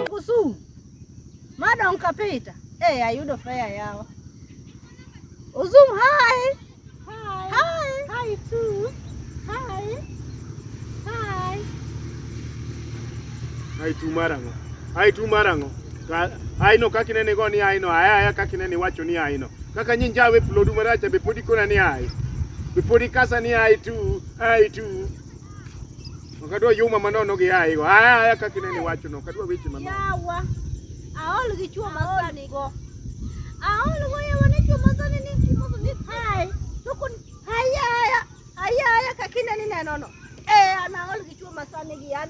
Kusu madam kapita hey, eh, ayudo fea yawa Uzum hi hi hi hi too hi hi hi tu marango hi tu marango hi no kakinene go ni hi no aya aya kakinene wacho ni hi no Kaka nyi njawe plodu maracha be podi kona ni ai. Be podi kasa ni ai tu, ai tu. Wakadwa yuma manono gi ai go. Aya aya kaka nene wacho no, kadwa weche manono. Yawa. Aol gi chuo masani go. Aol go yawa ne chuo masani ni chuo masani ni hai. Tukun hai aya. Aya aya kaka nene neno no. Eh, anaol gi chuo masani gi an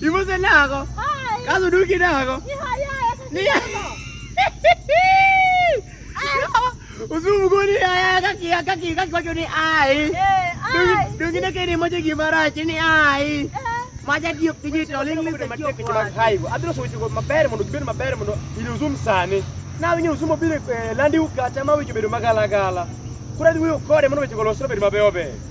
Ibuze nako. Kazo duki nako. Ni haya. Ni haya. Usumu goni haya kaki kaki kaki kwa ni ai. Eh, ai. Duki na kini moja gimara chini ai. Eh. Maja dio kiji toling ni se kio kwa. Hai, adro so chuko mabere mondo gibed mabere mondo ili uzum sani. Na winyo usumo bile eh, landi ukata ma winyo bedo magala gala. Kura dhi wuyo kode mondo weche go losre bedo mabeyo beyo.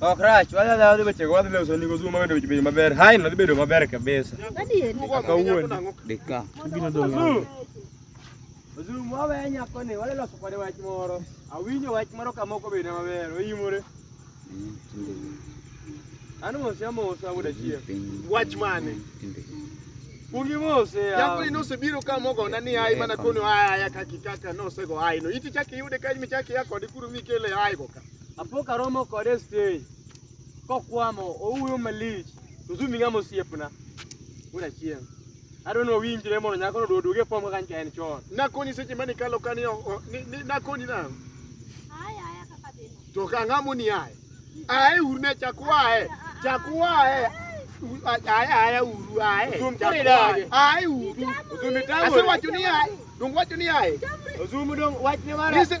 Okrach, oh, wadhi wadhi wechego wadhi loso ni gozu mabedo bedo maber. Hai no dhi bedo maber kabisa. Kawuono. Dika. Gino dong. Ozu mwawe nyako ni wadhi loso kode wach moro. Awinjo wach moro kamoko bende maber. Oyimore. Ano mose amosa wuda chieng. Wach mane? Kungi mose ya. Yakuri nose biro ka mogo na ni ai mana kono ai ya kaki kaka nose go ai no. Iti chaki yude ka mi chaki yako di kuru mi kele ai go ka. Apo karomo kode stay. Kokwamo owuyo malich. Tuzumi ngamo siepna. Wuda chieng. Adwa ni wawinjre mondo nyakono oduog oduog e fom kaka nyicha en chon. Nakoni seche mane ikalo ka ni o- o- ni- ni- nakoni nang'o? Aya, aya kaka dhino. To ka ang'o moni aye? Aye uru ne chak waye. Chak waye. U- a- Aye aye uru aye. Usum Chak kore dage. waye. Aye uru. Usumi tango. Asewacho ni aye. Donge wacho ni aye. Usumu dong wachne mara. Nise-